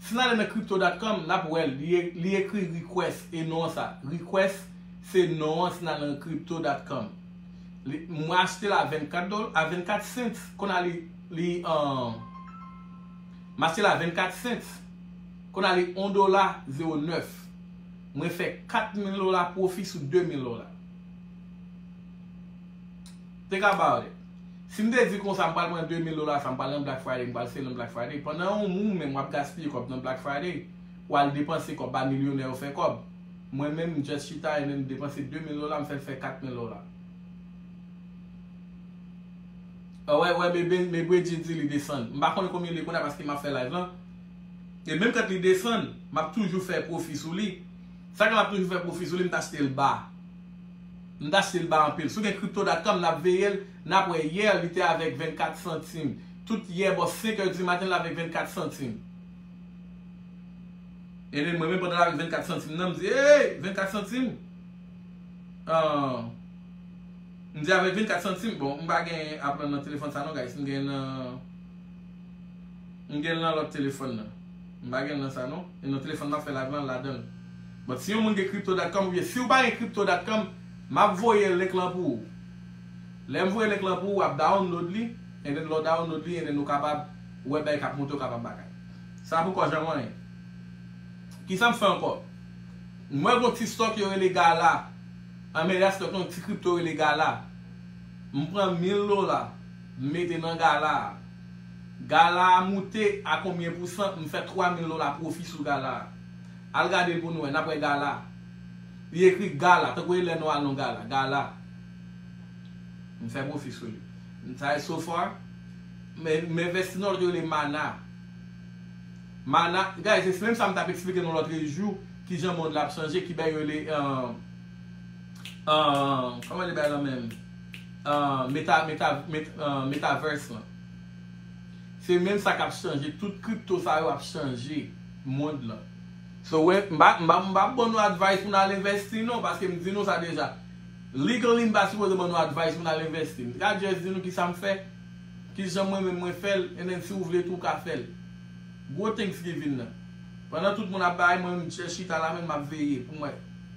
Si nale nan crypto.com nap wèl li ekri request e non sa request se non an si nale nan crypto.com li mwen achtel a 24 dol a 24 cents konn a li li an m achtel a 24 cents konn a li 1 dola 09 mwen fè 4000 dola profi sou 2000 dola. Te ka bare. Si m te di konsa m pral pran 2000 dola sa m pral nan Black Friday m pral selon Black Friday pandan ou ou menm wap gaspiye kòb nan Black Friday wal depanse kòb ba milyonè yo fè kòb mwen menm m just chita and then m depanse 2000 dola m fèl fè 4000 dola Wè wè me me Bridget di li desann m pa konnen konbyen li ye kounye a paske map fè live lan e menm kant li desann map toujou fè pwofi sou li sa ke map toujou fè pwofi sou li m t achte l ba. M ta chtel ba anpil. Si w gen crypto dot com nap veyel nap wè hier li te avek 24 santim tout hier bò 5 heures du matin l avek 24 santim ebyen mwen menm pandan l avek 24 santim nan m di eeyy 24 santim aah m di avek 24 santim bon m pa gen apl nan telefòn sa non guys m gen nan m gen nan lòt telefòn nan. M pa gen nan sa non. E nan telefòn map fè live lan ladanl. But si yon moun gen crypto dot com oubyen siw pa gen crypto dot com map voye link lan pou ou. Lèm voye link lan pou ou wap download li and then lè w download li and then ou kapab wè bagay kap moute ou kapab bagay. Sa poko janm anyen. Kisam fè ankò? M wè gon ti stock yo rele gala. Anmeyè stock lan yon ti crypto rele gala. M pran 1000 dola. M mete nan gala a. Gala a moute a konbyen pou san m fè 3000 dola pwofi sou gala a. Al gade l pou nou wè, n ap wè gala. Li ekri gala, tankou e lè nou al nan yon gala. Gala. M fè pwofi sou li. Sa e so far. M envèsti nan yon lòt yo rele Mana. Mana, guys, se menm sa m t ap eksplike nou lòtrejou, kijan mond la ap chanje, ki bèy yo rele. Koman li bay lan menm? Metaverse lan. Se menm sa kap chanje tout crypto sa yo ap chanje mond lan. So wè m pa m pa ban nou advice pou n al investi non paske m di nou sa deja. Legally m pa sipoze ban nou advice pou n al investi. M ka just di nou kisa m fè, kijan mwen menm mwen fè l and then si w vle tou w ka fè l. Gwo thanksgiving nan. Pandan tout moun ap bay mwen m just chita la menm map veye pou m wè.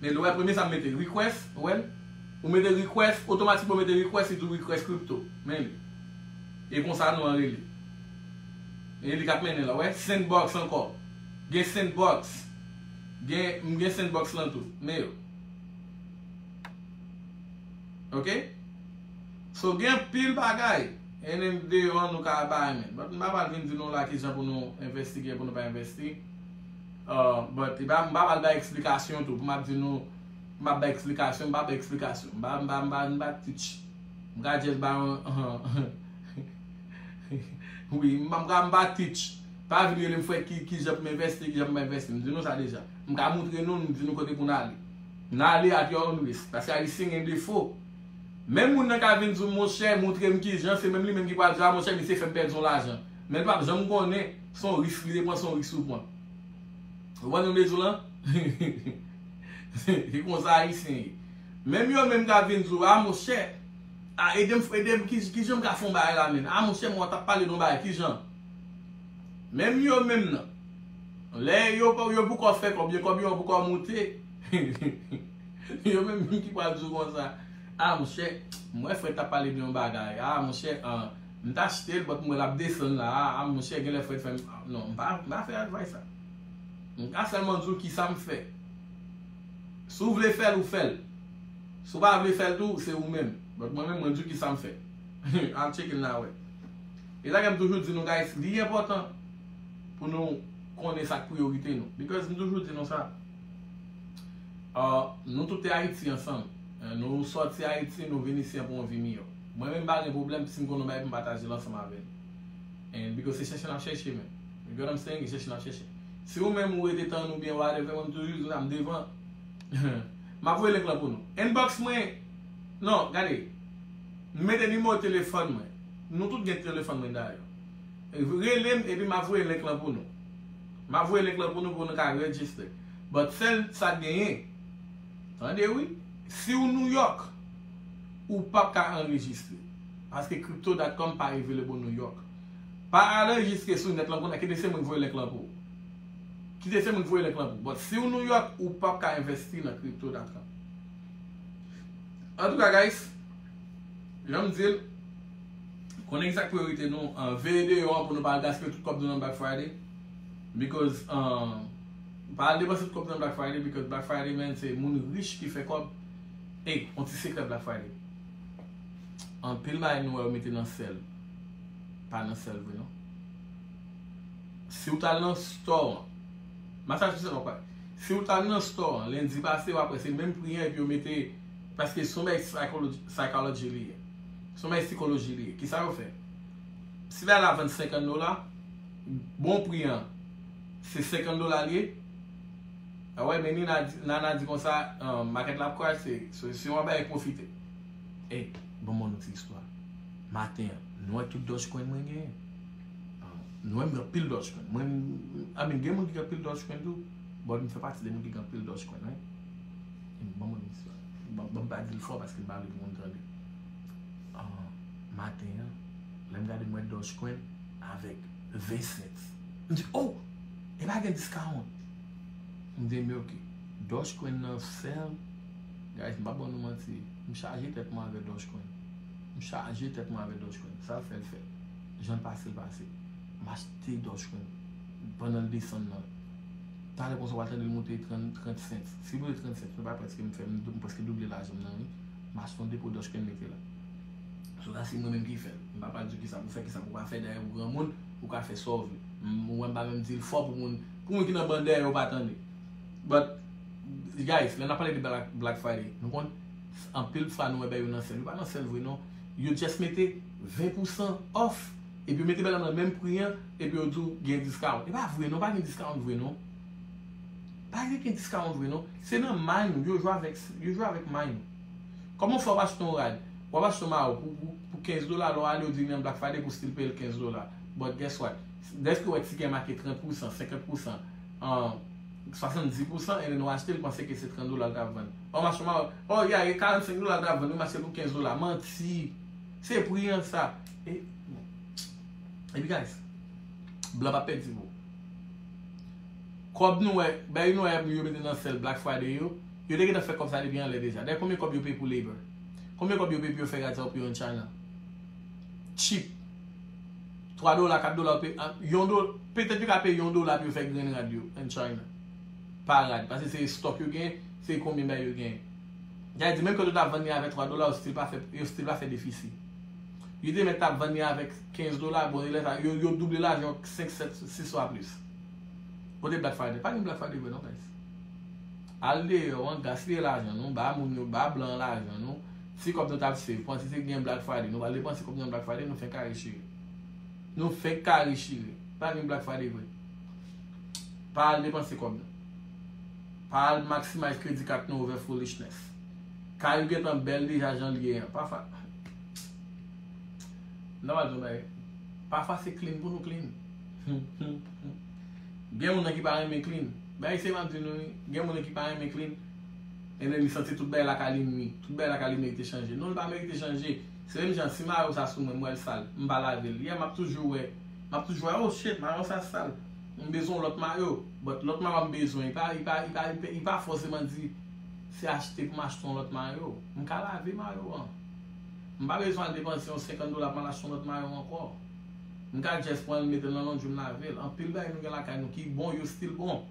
Men nou wè premye sa m mete request ou wèl ou mete request otomatikman ou mete request li di w request crypto men li e konsa nou an rele e li kap mennen la ou wè sendbox ankò gen sendbox gen m gen sendbox lan tou men yo ok so gen anpil bagay en en deyò an nou ka pa renmen but m pa pral vin di nou la kijan pou nou envesti kijan pou nou pa envesti But epa mpa pral bay explikasyon tou pou map di nou map bay explikasyon mpa bay explikasyon mpa mpa mpa mpa teach mka just bay yon wi mpa mka mpa teach pa vin relem fwe kijan poum investi kijan pou mpa investi mdi nou sa deja mka moutre nou mdi nou kote pou nou ale nan ale at your own risk paske ayisyen gen defo menm moun nan ka vin di w monchè moutrem kijan se menm li menm ki pral di a monchè misye fèm pèdi yon lajan. Men l pap janm konnen son risk li te pran son risk ou pran. Ou konprann sa m vle di w lan? Se konsa ayisyen ye. Menm yo menm kap vin di w a monchè a ede m ede m kijan m ka fon bagay la menn? A monchè mwen tap pale de yon bagay kijan? Menm yo menm nan lè yo pou kò fè kòb yo kòb yo an pou kò moute yo menm ki pral di w konsa a monchè m wè frè tap pale de yon bagay a monchè an M ta achtel but m wè lap desann la a monchè genlè fret fèm non m pa fè advice sa m ka sèlman diw kisam fè si w vle fèl ou fèl si w pa vle fèl tou se ou menm but mwen menm mwen diw kisam fè al tcheke l la wè e sa kem toujou di nou guys li enpòtan pou nou konnen sak priyorite nou because m toujou di nou sa nou toute ayiti ansanm nou sòti ayiti nou vin isi pou yon vi miyò. Mwen menm m pa gen pwoblèm si m konn yon bagay pou m pataje l ansanm avè n and because se chèche n ap chèche menm you get what I'm saying e chèche n ap chèche si ou menm ou rete tann ou byen whatever mwen m toujou di konsa m devan m ap voye link lan pou nou inbox mwen non gade m mete nimewo telefòn mwen nou tout gen telefòn mwen dayè rele m epi m ap voye link lan pou nou m ap voye link lan pou nou pou nou ka register but sèl sa k genyen tande wi si ou New York. ou pap ka anrejistre paske crypto dot com pa available New York pa anrejistre sou nèt lan kounye a kite se mwen ki voye link lan pou ou kite se mwen ki voye link lan pou ou but siw New York ou pap ka investi nan crypto dot com antouka guys janm dil konnen kisa ki priyorite nou veye deyò an pou nou pa al gaspiye tout kòb nou nan black friday because pa al depanse tout kòb nou nan black friday because black friday man se moun rich ki fè kòb. Ey yon ti sekrè black friday anpil bagay nou wè yo mete nan sèl pa nan sèl vre non siw tal nan store an massachusetts wap wè siw tal nan store an lendi pase wap wè se menm pri an epi yo mete paske son bagay psychology li ye son bagay psikoloji li ye kisa yo fè si bagay la vann 50 dola bon pri an se 50 dola li ye. Awè men Nina di Nana di konsa market la ap crash se solisyon an bay profite. Ey banm on nou ti istwa maten an nou wè tout dodge coin mwen genyen nou wèm gen anpil dodge coin mwen I mean gen moun ki gen anpil dodge coin tou but m fè pati de moun ki gen anpil dodge coin wi banm on nou ti istwa banm pa dil fò paske m pa vle pou moun tande maten an lèm gade m wè dodge coin avèk 20 cents m di oh epa gen discount. M vle milky. Doge queen nan fèl Guys m pa ban nou manti m chaje tèt mwen avè Doge queen M chaje tèt mwen avè Doge queen Sal fèl fèl Janl pasel pasel M achte Doge queen pandanl desann nan Talè konsa wal tandel moute 30 cents Sil moute 30 cents nou pa pè skem fè M preske double lajanm nan wi M achte yon depo Doge queen mete la So la se mwen menm ki fèl M pa pral diw kisa pou fè kisa pou pa fè dayè ou granmoun ou ka fè Saw vle M wèm pa menm dil fò pou moun Pou moun ki nan ban dèyè yo pa tande. But guys lè nap pale de black Friday nou konn anpil fwa nou wè bèy yo nan sèl yo pa nan sèl vre non yo just mete 20 pousan off epi yo mete bèy la nan menm pri an epi yo diw gen discount epa vre non pa gen discount vre non pa gen ken discount vre non se nan may nou yo jwe avèk yo jwe avèk may nou kòman fè wap achte yon rad wap achte yon mayo pou 15 dola lè wap ale yo diw gen black Friday pou still peyel 15 dola but guess what Dèske wè tigè make 30 pousan, 50 pousan, 70 pousan ebyen nou achte l panse ke se 30 dola l tap vann. Ò mache ma ò ya e 45 dola l tap vann wi m achte l pou 15 dola. Manti! Se pri an sa. E Epi guys, blan pa pèdi vo. Kòb nou wè, bèy nou wè yap yo mete nan sèl Black Friday yo, yo te gentan fè kòb sa depi anlè deja. Dayè konbyen kòb yo peye pou labor? Konbyen kòb yo peye pou yo fè rad sa yo pou yon China? Cheap. 3 dola 4 dola ou peye yon dola petèt yo ka peye yon dola pou yo fè grenn rad yo an china pa rad pase se estok yo gen se konbyen bagay yo gen sa vle di menm ke yo ta vann li avèk 3 dola yo stil pa fè yo stil pa fè defisi yo te mèt ta vann li avèk 15 dola bon e lè sa yo yo double lajan yo 5 7 6 fwa plis kote black friday pa gen black friday vre non guys al deyò an gaspiye lajan nou ba moun yo ba blan lajan nou. Se kòb nou tap save panse se gen black friday nou pral depanse kòb nou nan black friday nou fenk kare chire nou fenk kare chire pa gen black friday vre pa al depanse kòb nou pa al maximize kredi kat nou over foolishness kay ou gentan bèl deja janl ye an pa fat nan pral di yon bagay pa fase clean pou nou clean gen moun nan ki pa renmen clean bay se map di nou wi gen moun nan ki pa renmen clean. Ebyen li santi tout bagay lakay li ui, tout bagay lakay li merite chanje. Non li pa merite chanje, se menm jan si mayo sa sou mwen m wèl sal, m pa lavel, yeah map toujou wè, map toujou wè oh shit mayo sa sal, m bezwen yon lòt mayo, but lòt mayo m bezwen li pa li pa li pa li pa fòseman di se achte pou m achte yon lòt mayo, m ka lave mayo an, m pa bezwen al depanse yon 50 dola pou m al achte yon lòt mayo ankò, m ka just pranl metel nan londri m lavel, anpil bagay nou gen lakay nou ki bon yo still bon.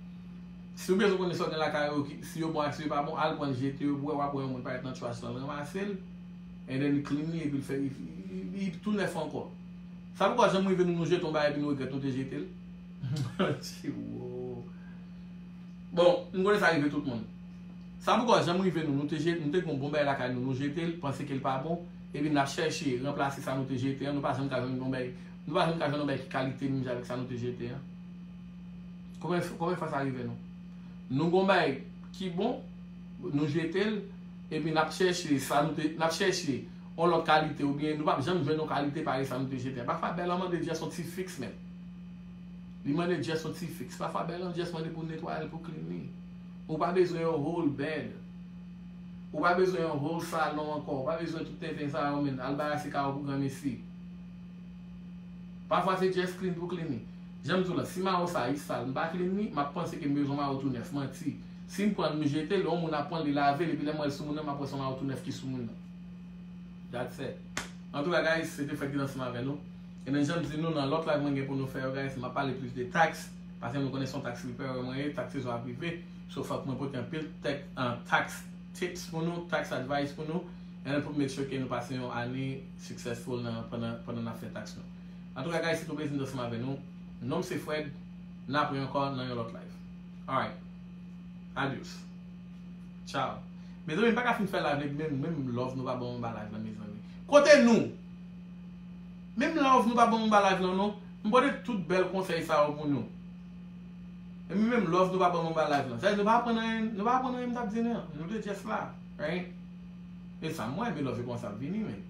Siw bezwen konnen sa w gen lakay ou si yo bon ak si yo pa bon al pranl jete yo pou wè wap wè yon moun pa ret nan trash lan ranmasel and then li clean li epil fè li tou nèf ankò sa poko janm rive nou nou jete yon bagay epi nou regrèt nou te jetel tchiwoo bon m konnen sa rive tout moun sa poko janm rive nou nou te jete nou te gen yon bon bagay lakay nou nou jetel panse kel pa bon epi nap chèche ranplase sa nou te jete an nou pa janm ka jwenn yon bagay nou pa janm ka jwenn yon bagay ki kalite menm jan avèk sa nou te jete an. Konbyen fwa sa rive nou? Nou gon bagay ki bon, nou jete l, epi n ap chèche sa nou te, n ap chèche yon lòt kalite oubyen nou p ap janm jwenn yon kalite parèy sa nou te jete a. Pafwa bè lan mande jès yon ti fix menm. Li mande jès yon ti fix. Pafwa bè lan jès mande pou netwaye l, pou clean li. Ou pa bezwen yon whole bed. Ou pa bezwen yon whole salon ankò. Ou pa bezwen tout tenten sa yo menn. Al barase kay ou pou granmesi. Pafwa se jès clean pou clean li. Janm diw lan si maron sa is sal mpa klin li map panse ke mezon maron tou nèf manti sim pranl m jete l yon moun ap pranl li lavel epi lèm wèl sou moun nan map wè son maron tou nèf ki sou moun nan that's et antouka guys se te fred ki t ansanm avè nou ebyen janm di nou nan lòt live mwen gen pou nou fè yo guys map pale plis de tax paske nou konnen son tax reparer mwen ye tax sezon ap rive so fòk mwen pote anpil tax tips pou nou tax advice pou nou and pou make sure ke nou pase yon ane successful nan pandan nap fè tax nou. Antouka guys se tou plezi m t ansanm avè nou Nom se Fred N ap re ankò nan yon lòt live Alright Adios Ciao Mezanmi m paka fin fè live la epi menm love nou pa banm anba live la mezanmi Kote nou Menm love nou pa banm anba live la non M pote tout bèl konsèy sa yo pou nou Epi menm love nou pa banm anba live la Sa vle di nou pa aprann anyen Nou pa aprann anyen m t ap di nou an Nou te just la Right E sa m wè men love yo kòmanse ap vini menn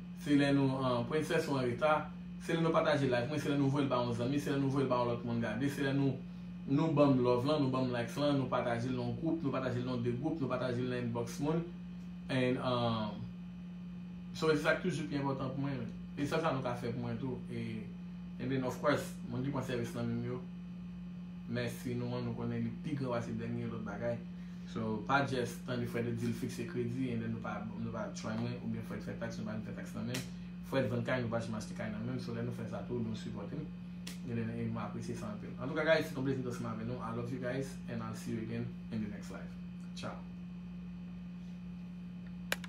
Se lè nou an Princess ou anreta Se lè nou pataje live mwen Se lè nou voyel ba yon zanmi Se lè nou voyel ba yon lòt moun gade Se lè nou Nou banm love lan Nou banm likes lan Nou patajel nan yon group Nou patajel nan de group Nou patajel nan inbox moun And um So se sak toujou pi enpòtan pou mwen E sèl sa nou ka fè pou mwen tou E And then of course Moun ki pran sèvis nan menm yo Mèsi nou an Nou konnen li pi gran pase dènye lòt bagay. So pa just tande Fred ap di l fikse kredi and then nou pa nou pa try mwen ou byen Fred fè tax nou pa janm fè tax nan menm Fred vann kay nou pa janm achte kay nan menm so lè nou fè sa tou nou sipòte m and then e mwen apresye sa anpil antouka guys se ton plezi t ansanm avè nou I love you guys and I'll see you again in the next live ciao.